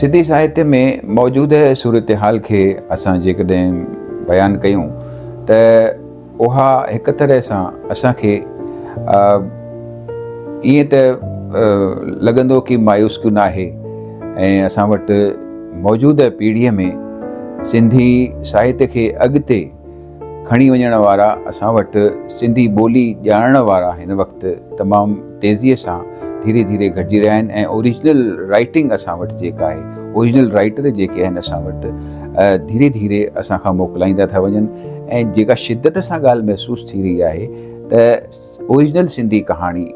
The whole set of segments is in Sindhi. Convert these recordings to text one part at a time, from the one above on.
سنڌي ساهتيه ۾ موجوده صورتحال کي اسان جيڪڏهن بيان ڪيون ته اها هڪ طرح سان اسان کي ائين ته لڳندو ڪي مايوس ڪيون ناهي ۽ اسان وٽ موجوده پيڙهيء ۾ سنڌي ساهتيه کي اڳتي کڻي وڃڻ وارا اسان وٽ سنڌي ٻولي ڄاڻڻ وارا هن وقت تمام تيزيء سان ڌيري ڌيري گهٽجي رهيا آهن ۽ اوريجنل رائيٽنگ اسان وٽ جيڪا آهي اوريجنل رائيٽر جيڪي آهن اسان وٽ ڌيري ڌيري اسان کان موڪلائيندا ٿا وڃن ۽ جيڪا شدت سان ڳالهه محسوس ٿي رهي آهي ته اوريجنل سنڌي ڪهاڻي،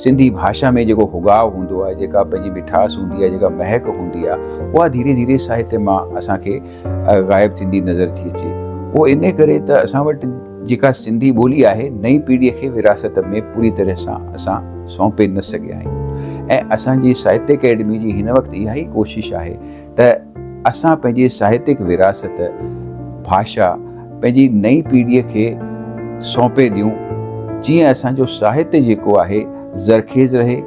سنڌي ڀاشا ۾ جيڪو هوڳاء هوندو آهي، جيڪا پنهنجي مٺاس هوندي آهي، جيڪا مهڪ هوندي آهي، اها ڌيري ڌيري ساهتيه مان اسان کي غائب ٿيندي نظر ٿي اچي. اهو انهي ڪري ته اسان وٽ جيڪا سنڌي ٻولي آهي، نئين پيڙهيء کي وراثت ۾ پوري طرح سان اسان سونپي نه سگهيا آهيون ۽ اسان جي ساهتيه اڪيڊميء جي هن وقت اها ئي ڪوشش آهي ته اسان پنهنجي ساهتڪ وراثت، ڀاشا، پنهنجي نئين پيڙهيء کي سونپي ڏيون، جيئن اسان جو ساهت جيڪو آهي زرخيز رهي،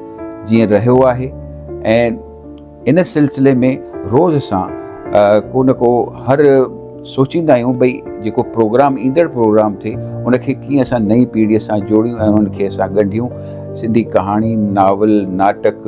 جيئن رهيو آهي ۽ ان سلسلي ۾ روز اسان ڪو نه ڪو هر سوچيندا آهيون ڀئي جيڪو پروگرام ايندڙ پروگرام ٿئي ان کي ڪيئن اسان نئين پيڙهيء سان جوڙيون ۽ انهن کي اسان ڳنڍيون، سنڌي ڪهاڻي، ناول، ناٽڪ،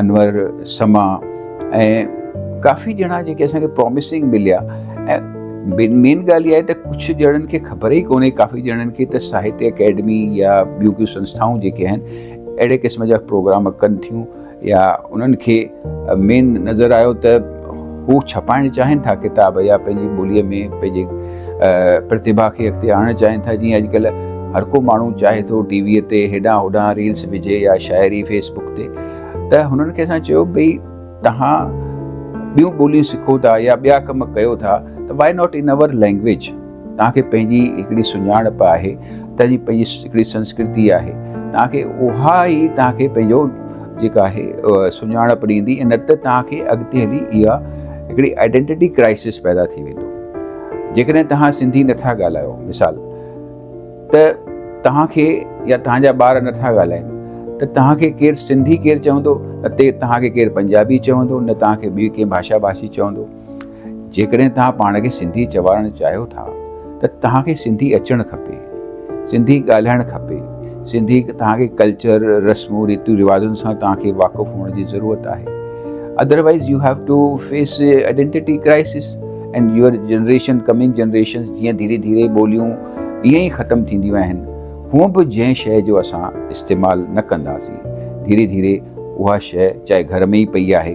انور سما ۽ ڪافي ڄڻا جيڪي اسان کي پراميسنگ مليا ۽ بن مين ڳالهه اها آهي ته ڪجهه ڄڻن کي خبر ئي ڪونهي ڪافي ڄڻن کي ته ساهتيه اڪيڊمي يا ٻيون ڪيون سنسٿائون جيڪي آهن اهڙي قسم جا پروگرام ڪن ٿيون يا انهن کي مين نظر آيو ته هو ڇپائڻ چاهين ٿا ڪتاب يا پنهنجي ٻوليء ۾ پنهنجي پرتيڀا کي اڳتي آڻڻ چاهين ٿا جيئن اڄڪلهه هر ڪو ماڻهو چاهي ٿو ٽي ويء تي هيڏانهن هوڏانهن ريلز وجهي يا شاعري فيس بڪ تي ته هنن کي اسان چيو ڀئي توهان ٻيون ٻوليون سکو ٿا يا ٻيا ڪم ڪيو ٿا ته why not in our language توهان کي پنهنجي هڪڙي سڃاڻپ آهي، توهان جي پنهنجي هڪڙي سنسڪرتي آهي، توهان کي اها ئي توهان کي پنهنجو جيڪا آهي سڃاڻپ ڏيندي ۽ نه ته توهان کي اڳتي هلي اها هڪڙي آئيڊينٽيٽي ڪرائسس پيدا ٿي ويندو. جيڪڏهن توهان سنڌي نه ٿا ڳالهايو مثال ته توهان کي يا توهان جا ٻار نه ٿا ڳالهائين ته توهان کي ڪير سنڌي ڪير چوندو، نه توهان کي ڪير پنجابي چوندو، نه توهان کي ٻي ڪنهن ڀاشا ڀاشي چوندو. جيڪڏهن توهان پاڻ کي سنڌي چوارڻ چاهيو ٿا ته توهان کي سنڌي اچڻ کپي، سنڌي ڳالهائڻ کپي، سنڌي توهان کي ڪلچر، رسمون ريتون رواجن سان توهان کي واقف هئڻ جي ضرورت آهي. Otherwise you have to face identity crisis and your generation coming generations جيئن ڌيري ڌيري ٻوليون ائين ئي ختم ٿينديون آهن هونء به جنهن شيء جو اسان استعمال نه ڪنداسين ڌيري ڌيري اها شيء چاهي گهر ۾ ئي پئي آهي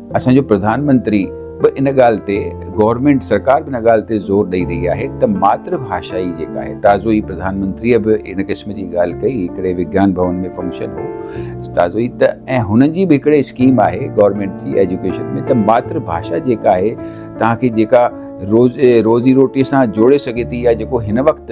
اسان جو پرڌان منتري به ان ڳالهه تي گورنمينٽ سرڪار به ان ڳالهه تي زور ڏئي رهي آهي ته ماتر ڀاشا ئي جيڪا آهي تازو ئي پرڌان منتري به ان قسم جي ڳالهه ڪئي هڪڙي وگيان ڀون ۾ فنڪشن هو تازو ئي ته ۽ هنن جي به هڪڙي اسڪيم آهي گورنمينٽ جي ايجوڪيشن ۾ ته ماتر ڀاشا جيڪا آهي توهان کي جيڪا روز روزي روٽي سان جوڙي سگهي ٿي يا جيڪو هن وقت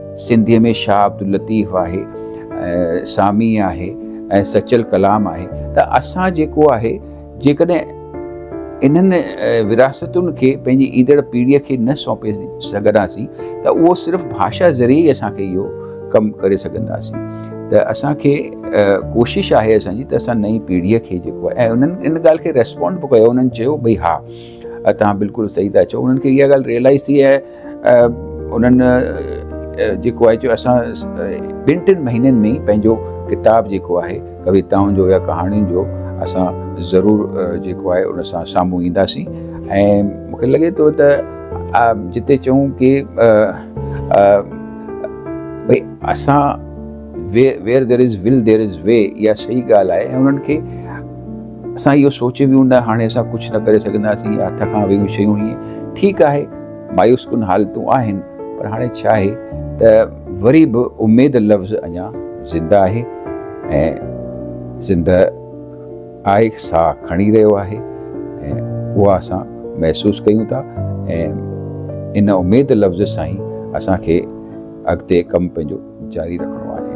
سنڌيء ۾ شاهه عبداللطيف آهي، سامي آهي ۽ سچل ڪلام آهي ته اسان جيڪو آهي جيڪڏهن انهن ورهاستن کي پنهنجي ايندڙ پيڙهيء کي نه سونپي سگهنداسين ته اهو صرف ڀاشا ذريعي ئي اسان کي اهو ڪم ڪري سگهنداسين ته اسان کي ڪوشش آهي اسان جي ته اسان نئين پيڙهيء کي جيڪو آهي ۽ انهن ان ڳالهه کي ريسپونڊ به ڪيو انهن چيو ڀئي ها توهان بلڪل صحيح ٿا چئو انهن کي اها ڳالهه ريئلائز ٿي ۽ انهن جيڪو آهي جو اسان ٻن ٽن مهينن ۾ پنهنجو ڪتاب جيڪو آهي ڪويتائن جو يا ڪهاڻين جو اسان ضرور جيڪو آهي ان سان سامهون اينداسين ۽ مونکي لڳي ٿو ته جتي چئون ڪي ڀئي اسان where there is will there is way اها صحيح ڳالهه آهي انهن کي اسان اهو سوچي ويون نه هاڻي اسان ڪجهه نه ڪري سگهنداسين يا هٿ کان ويون شيون هي ٺيڪ آهي مايوس ڪن حالتون آهن پر هاڻي ڇا آهي ته وري به اميد لفظ اڃا زنده آهي ۽ زنده آهي ساهه کڻي رهيو آهي ۽ اها اسان محسوس ڪيون ٿا ۽ ان اميد لفظ سان ئي اسان کي اڳتي ڪم پنهنجو جاري رکڻو آهي